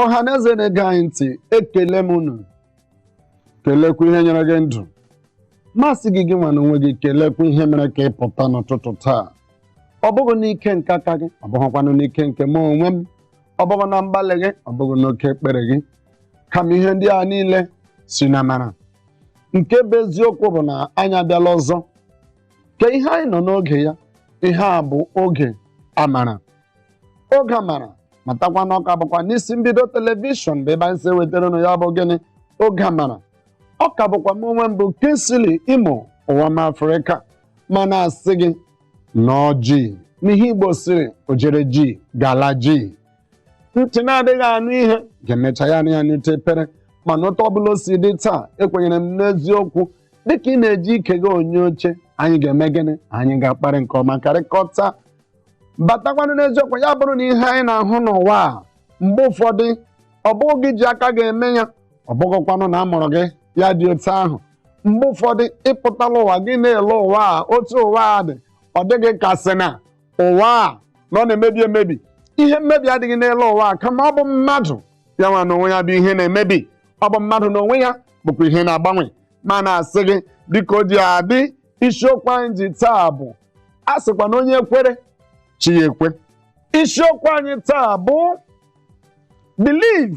ọha na eze na-ege anyị ntị ekele m unu kelekwa ihe nyere gị ndụ ma sị gị gị nwa n'onwe gị kelekwa ihe mere ka ị pụta n'ụtụtụ taa ọ bụghị n'ike nke aka gị ọ bụghịkwanụ n'ike nke m onwe m ọ bụghị na mgbalị gị ọ bụghị n'oke ekpere gị kama ihe ndị a niile si n'amara nke bụ eziokwu bụ na anyị abịala ọzọ ka ihe anyị nọ n'oge ya ihe a bụ oge amara oge amara matakwa na ọ ka bụkwa n'isi mbido telivishọn bụ ebe anyị si ewetara unu ya bụ gịnị oge amara ọ ka bụkwa m onwe m bụ Kingsley imo ụwa m afrịka ma na-asị gị nọọ jii n'ihe igbo sịrị ojere jii gala jii ntị na-adịghị anụ ihe ga-emecha ya anya n'ite pere mana otu ọbụla o si dị taa ekwenyere m n'eziokwu dịka ị na-eji ike gị onye oche anyị ga-eme gịnị anyị ga-akparị nke ọma kparịkọta batakwanụ n'eziokwu ya bụrụ na ihe anyị na-ahụ n'ụwa a mgbe ụfọdụ ọ bụghị gị ji aka ga-eme ya ọ bụghịkwanụ na a mụrụ gị ya dị otu ahụ mgbe ụfọdụ ị pụtala ụwa gị na-ele ụwa a otu ụwa a dị ọ dị gị ka sị na ụwa a na ọ na-emebi emebi ihe mmebi adịghị n'elu ụwa a kama ọ bụ mmadụ ya nwa n'onwe ya bụ ihe na-emebi ọ bụ mmadụ n'onwe ya bụkwa ihe na-agbanwe ma na-asị gị dịka o ji adị isiokwu anyị ji taa bụ a sịkwa na onye kwere chi ya ekwe isiokwu anyị taa bụ believe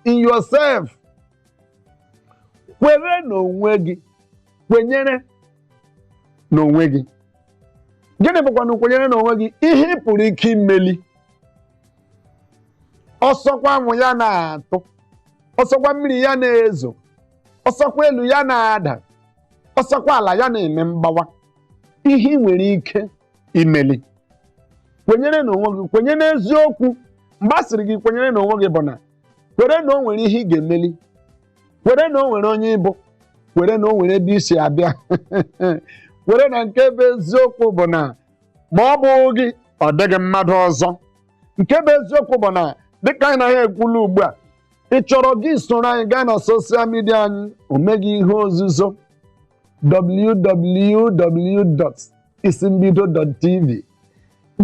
in yourself kwere n'onwe gị kwenyere n'onwe gị gịnị bụkwanụ kwenyere n'onwe gị ihe ị pụrụ ike imeli ọ sọkwa anwụ ya na-atụ ọ sọkwa mmiri ya na-ezo ọ sọkwa elu ya na-ada ọ sọkwa ala ya na-eme mgbawa ihe ị nwere ike imeli kwenyere n'onwe gị kwenyere n'eziokwu mgbe a sịrị gị kwenyere n'onwe gị bụ na kwere na o nwere ihe ị ga-emeli kwere na o nwere onye ị bụ kwere na o nwere ebe i si abịa kwere na nke bụ eziokwu bụ na ma ọ bụghị gị ọ dịghị mmadụ ọzọ nke bụ eziokwu bụ na dịka anyị naghị ekwulu ugbu a ị chọrọ gị soro anyị gaa na soshal midia anyị o nweghị ihe ozuzo www. isi mbido dot tv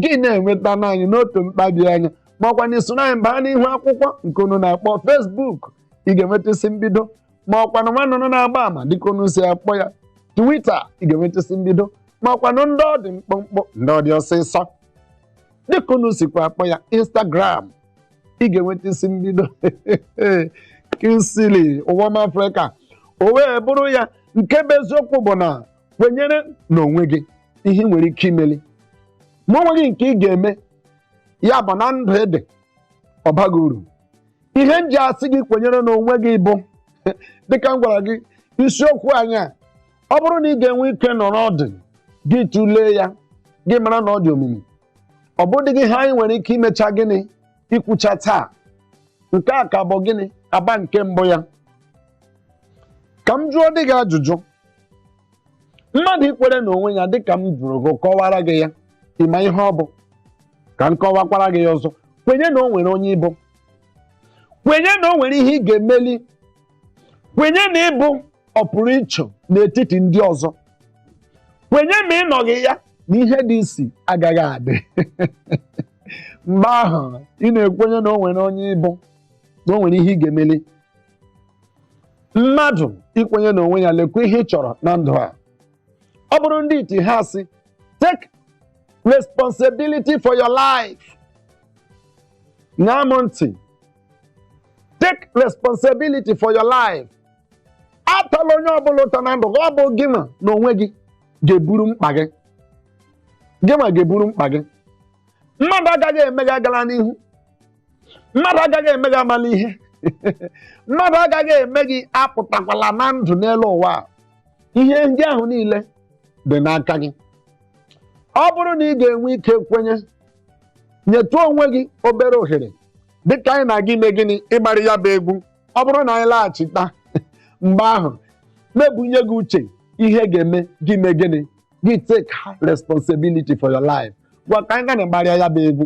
gị na-enweta anyị n'otu mkpabi anya ma ọkwa na i soro anyị baa n'ihu akwụkwọ nke unu na-akpọ Facebook ị ga-enweta isi mbido ma ọkwa na nwa nnụnụ na-agba ama dịka unu si akpọ ya Twitter ị ga-enweta isi mbido ma ọkwa na ndị ọ dị mkpụmkpụ ndị ọ dị ọsịsọ dịka unu sikwa akpọ ya Instagram ị ga-enweta isi mbido Kingsley ụwa m Afrịka o wee bụrụ ya nke bụ eziokwu bụ na kwenyere n'onwe gị ihe ị nwere ike imeli ma o nweghị nke ị ga-eme ya bụ na ndụ ị dị abaghị uru ihe m ji asị gị kwenyere n'onwe gị bụ dịka m gwara gị isiokwu anyị a ọ bụrụ na ị ga-enwe ike nọrọ ọdụ gị tụlee ya gị mara na ọ dị omimi ọ bụdịghị ihe anyị nwere ike imecha gịnị ikwucha taa nke a ka bụ gịnị agba nke mbụ ya ka m jụọdị gị ajụjụ mmadụ ikwere na onwe ya dịka m jụrụ gị kọwara gị ya ị ma ihe ọ bụ ka m kọwakwara gị ya ọzọ kwenye na o nwere onye ị bụ kwenye na o nwere ihe ị ga-emeli kwenye na ị bụ ọpụrụ iche n'etiti ndị ọzọ kwenye ma ị nọghị ya na ihe dị isi agaghị adị mgbe ahụ ị na-ekwenye na o nwere onye ị bụ na o nwere ihe ị ga-emeli mmadụ ikwenye n'onwe ya lekwa ihe ị chọrọ na ndụ a ọ bụrụ ndị iti ha asị take responsibility for your life ṅaa m ntị take responsibility for your life atala onye ọbụla ụta na ndụ gị ọ bụ gịwa na onwe gị ga-eburu mkpa gị gịwa ga-eburu mkpa gị mmadụ agaghị eme gị agala n'ihu mmadụ agaghị eme gị amala ihe mmadụ agaghị eme gị apụtakwala na ndụ n'elu ụwa ihe ndị ahụ niile dị n'aka gị ọ bụrụ na ị ga-enwe ike kwenye nyetụ onwe gị obere ohere dịka anyị na-aga ime gịnị ịgbarị ya bụ egwu ọ bụrụ na anyị laghachita mgbe ahụ m ebunye gị uche ihe ga-eme gị mee gịnị gị take responsibility for your life ngwa ka anyị ga na-agbarịa ya bụ egwu